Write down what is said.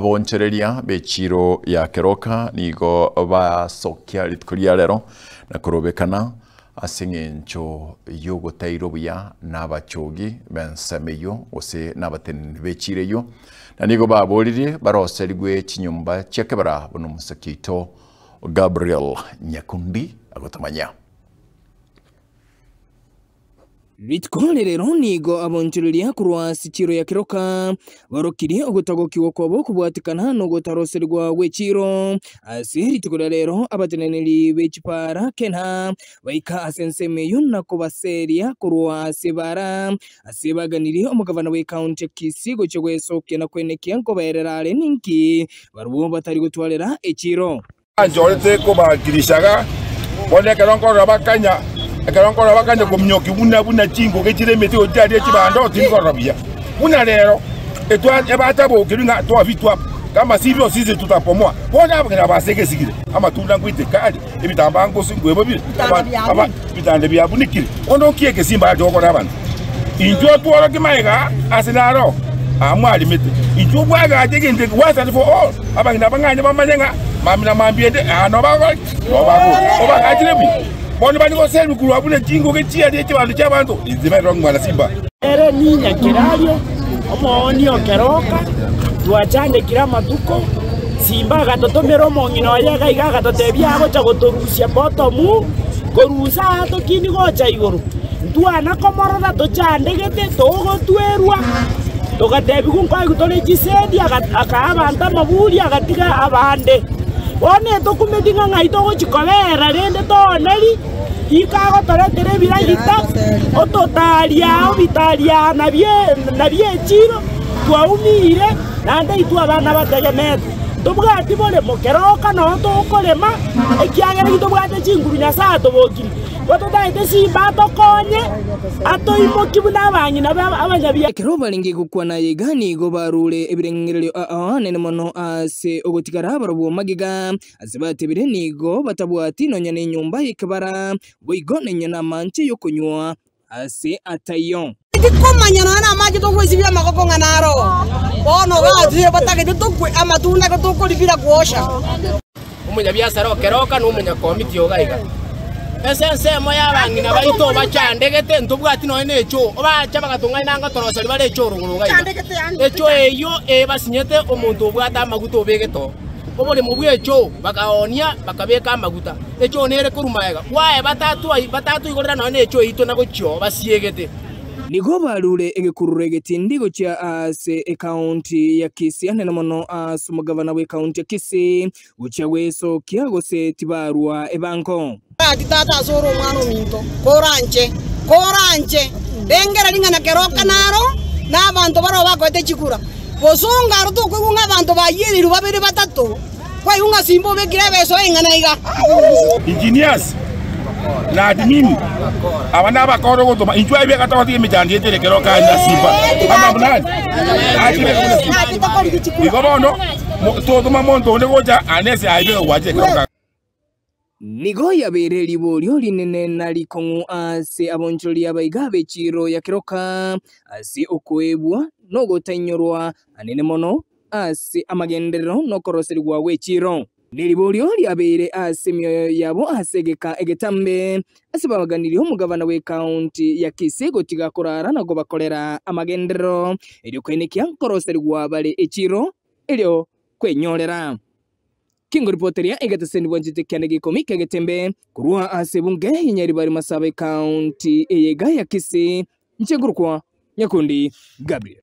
Aboonchoreria be chiiro ya keroka nigo basokia rituko ria rero na korobekana ase engencho y'ogotairwa buya n'abachoogi b'ensemo eyio gose n'abateneneri be chiira eyio, na nigo baboorire baroserigwe chinyomba chia kebara buna omosakia oito Gabriel Nyakundi agotomanyia. Rituko rerero nigo abonchoreria korwa ase chiiro ya keroka barokirie ogotagokigwa kwabo okobwatekana nogotaroserigwa gwe chiiro. Ase rituko ria rero abateneneri be chipaara kena baika ase ensemo eyio na kobaseria korwa ase ebaara. Ase baganirie omogavana bw'ekaunti ya Kisii gochia gwesokia na kwenekia nkobaerera are ninki barabwo batari gotwarera echiiro. Banchorete kobakirishaga, bono ekero nkorora bakanya, ekero nkorora bakanya kominyoki buna buna chingoge chire emete gochia chiaria echibando, tindi korora buya. Buna rero, etwa ebatabokerwe ng'a twabitwa, kamasibi osise tutakomoa, bono abageni aba ase egesigire, amatunda nkoiteka are, ebitambaa ngosu nkoebabire, aba- aba- Bitanda biabunikire, onde o kie egesimba ache gokora abanto. Inchuo otworoke magega ase naro aa mwarimete, inchuo bwagache egento eke once and for all, abang'ina abang'aini bamanye ng'a mamina mambiaete aa nobagokora ki? Nobabore, obagachire buya. Bono bari goseerigwa korwa buna chingoki chiaria chi'ebanto chi'abanto, inse Berong'wa na Simba. Ere ninya kerario, omooni o keroka, twachandekire amatuko, simba agatotomera omong'ina oye iga iga agatotebia agocha gotorusia bottomu, korusia aa tokini gocha igoro, ntwana komorora tochandegete togotwerwa, togatebigwa nkoigwa tore chisedi, aga- akaa abanto amaburi agatiga abande. Bono etokumeti ng'a ng'ai togochi kobeera rende tooneri. Nigo agotoretera ebiragita, ototari ao bitari aa nabi'echiiro, twaumiire, naende intwe abana bategemete, ntobwati boremo keroka noyo tokorema, ekiagera titobwate chinguru Nyasae atobokirie. Gototagete simba atokonye, atoimokie buna abang'ina be abanyabiakuya. Ekero barenge gokwana aya iga nigo baruure ebirengererio ao anene mono ase ogotigara barobwo magega, Ase batebire nigo batabwati nonya nenyomba y'ekebara, boigo nonya namanche y'okonywa ase ataiyo. Tikomanya nonya namache togoisibia amagoko ng'a naro bono ogatire batagete tokwe amatunda iga tokoribira gwosha. Omonyabiasara okeroka na omonyakomiti oga iga. Ase ensemo y'abang'ina baito obachandegete, ntobwati nonya na echo, obacha bagatong'aina anga torosori bare echo orogoro iga iga. Echo eyio eebasinyete omonto obwate amaguta obegete oo. Oboremo bw'echoo bakaoonia, bakabeka amaguta. Echoo nere korwa magega kwaye batato igorera nonya nechoo yaito na gochia oo basiegete. Nigo barure egekururo egetindi gochia aase ekaunti ya Kisii, anene mono aase omogavana bw'ekaunti ya Kisii, gochia gwesokia, gose tibarwa ebango. Gaki tata ase ore omwana ominto, koranche, koranche! Rengera ring'ana keroka naro, na abanto baroo bakoete chigura. Bosonga aro tokoigwa ng'a abanto bayierirwe babere batato, kwaigwa ng'a simba obekire ebeso y'eng'ana iga. Engineers na admin aba nabakora ogotoma intwe aye biagata gotiga emechando yetu ere kero kare na simba ama buna ari atire buna simba igo bono mo- totoma monto onde gocha ane ase aye biga gwachire kero kare Nigo yabeire riborio rinene na rikong'u ase abonchorori abaiga be chiiro ya keroka, ase okoeebwa na ogotainyorwa anene mono ase amagenderero na okoroserigwa gwe chiiro. Ne riborio riabeire ase emioyo yabo ase egeka egetambe, ase babaganirie omogavana bw'ekaunti ya Kisii gotiga korara na kobakorera amagenderero, erio kwainekia nkoroserigwa bare echiiro erio kwenyorera. Kingori poteria egeteseni bwanchete kianda gia ikomi ki'egetembe, korwa ase ebunge ya Nyaribari Masaba Ekaunti eye iga ya Kisii, inche nkorokwa Nyakundi Gabriel.